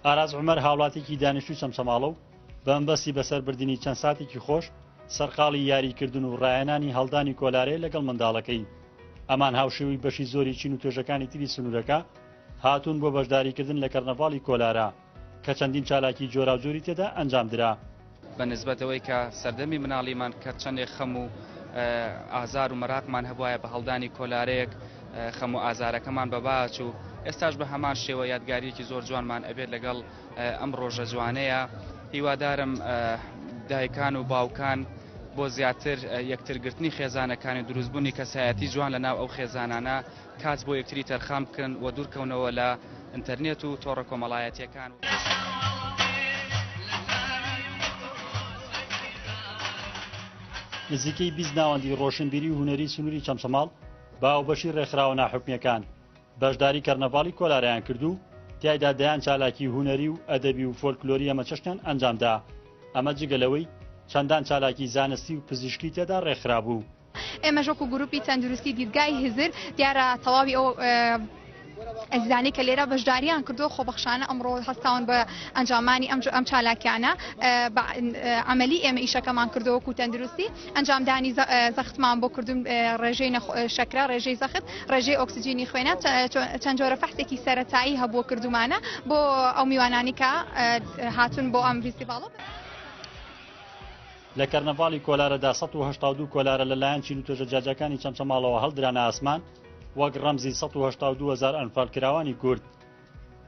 ئاراز عمەر هاوڵاتێکی دانیشتوی چەمچەماڵە و بەمبەستی بەسەر بردننی چەند ساتێکی خۆش سەرقاڵی یاریکردن و ڕایەنانی هەڵدانی کۆلارەیە لەگەڵ منداڵەکەی ئەمان هاوشێوی بەشی زۆری چین و توێژەکانی تری سنوورەکە هاتوون بۆ بەشداریکردن لە کەرنەڤاڵی کۆلارە کە چەندین چالاکی جۆراوجۆری تێدا ئەنجام درا. بە نسبەت ئەوەی کە سەردەمی مناڵیمان کە چەندێک خەم و ئازار و مەراقمان هەبوایە بە هەڵدانی کۆلارەیەک خەم و ئازارەکەمان بەباچوو ئێستاش بە هەمان شێوە یادگاریەکی زۆر جوانمان ئەبێت لەگەڵ ئەم ڕۆژە جوانەیە هیوادارم دایکان و باوکان بۆ زیاتر یەکترگرتنی خێزانەکانی دروستبوونی کەسایەتی جوان لە ناو ئەو خێزانانە کات بۆ یەکتری تەرخان بکەن و دوورکەونەوە لە ئینتەرنێت و تۆڕە کۆمەڵایەتییەکان. نزیکەی بیست ناوەندی ڕۆشنبیری و هونەری سنووری چەمچەماڵ بە هاوبەشی ڕێکخراوە ناحکومییەکان بەشداری کەرنەڤاڵی کۆلارەیان کرد و تیایدا دەیان چالاکی هونەری و ئەدەبی و فۆلکلۆری هەمەچەشنیان ئەنجامدا ئەمە جگە لەوەی چەندان چالاکی زانستی و پزیشکی تێدا ڕێکخرابوو. ئێمەش وەکو گروپی تەندروستی دیدگای هزر دیارە تەواوی ئەو ئەزیزانی کە لێرە بەشداریان کردو خۆبەخشانە ئەمڕۆ هەستاون بە ئەنجامانی ئەم ئەم چالاکیانە ئەمەلی ئێمە ئیشەکەمان کردووەکو تەندروستی ئەنجامدانی زەختمان بۆ کردن ڕێژەی شەکرا ڕێژەی زەخت ڕێژەی ئۆکسسیجینی خوێنە چەند جۆرە فەحسێکی سەتایی هەبووە کردومانە بۆ ئەو میوانانی کە هاتون بۆ ئەم فیستیڤڵە. لە کەرنەڤاڵی کۆلارەدا سەد و هەشتا و دوو کۆلارە لە لایەن چین و توێژە جیاجیاکانی چەمچەماڵەوە هەڵدرانە ئاسمان، وەک ڕەمزی سەد و هەشتا و دوو هەزار ئەنفالکراوانی کورد.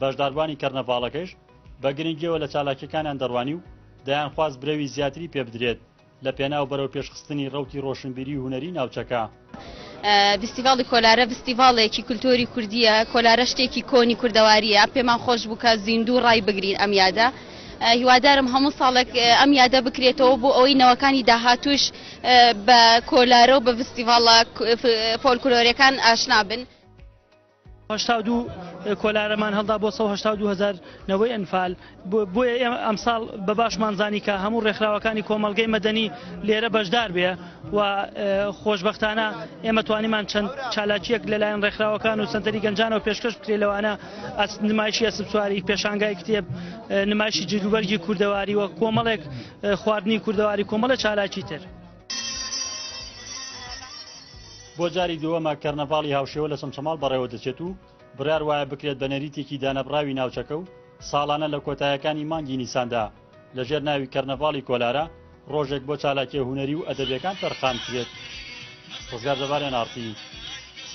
بەشداربووانی کەرنەڤاڵەکەیش بە گرنگییەوە لە چالاکییەکانیان دەڕوانی و دەیانخواست برەوی زیاتری پێبدرێت لە پێناو بەرەوپێشخستنی ڕەوتی ڕۆشنبیری و هونەری ناوچەکە. ڤیستیڤاڵی کۆلارە ڤیستیڤاڵێکی کولتۆری کوردییە، کۆلارە شتێکی کۆنی کوردەوارییە، پێمان خۆش بوو کە زیندوو ڕای بگرین ئەم یادە. هیوادارم هەموو ساڵێک ئەم یادە بکرێتەوە بۆ ئەوەی نەوەکانی داهاتووش بە کۆلارە و بە ڤیستیڤاڵە فۆلکلۆرەکان ئاشنا بن. هەشتا و دوو کۆلارەمان هەڵدا بۆ 1970 هزار نەوەی ئەنفال بۆیە ئێمە ئەمساڵ بە باشمان زانی کە هەموو ڕێکخراوەکانی کۆمەلگەی مەدەنی لێرە بەشدار بێ و خۆشببختانە ئێمە توانیمان چەند چالاکیەک لەلایەن ڕێکخراوەکان و سنتەری گەنجانەوە پێشکەش بکرێت لەوانە ئەس نمایشی ئەسبسواری پێشانگای کتێب نمایشی جلوبەرگی کوردەواری و کۆمەڵێک خواردنی کوردەواری کۆمەڵە چالاکی تر. بۆ جاری دووەمە کەرنەڤاڵی هاوشێوە لە چەمچەماڵ بەڕێوە دەچێت و بڕیار وایە بکرێت بە نەریتێکی دانەبڕاوی ناوچەکە و ساڵانە لە کۆتایەکانی مانگی نیساندا لەژێر ناوی کەرنەڤاڵی کۆلارە ڕۆژێک بۆ چالاکیە هونەری و ئەدەبیەکان تەرخان کرێت ڕزگار جەبار NRT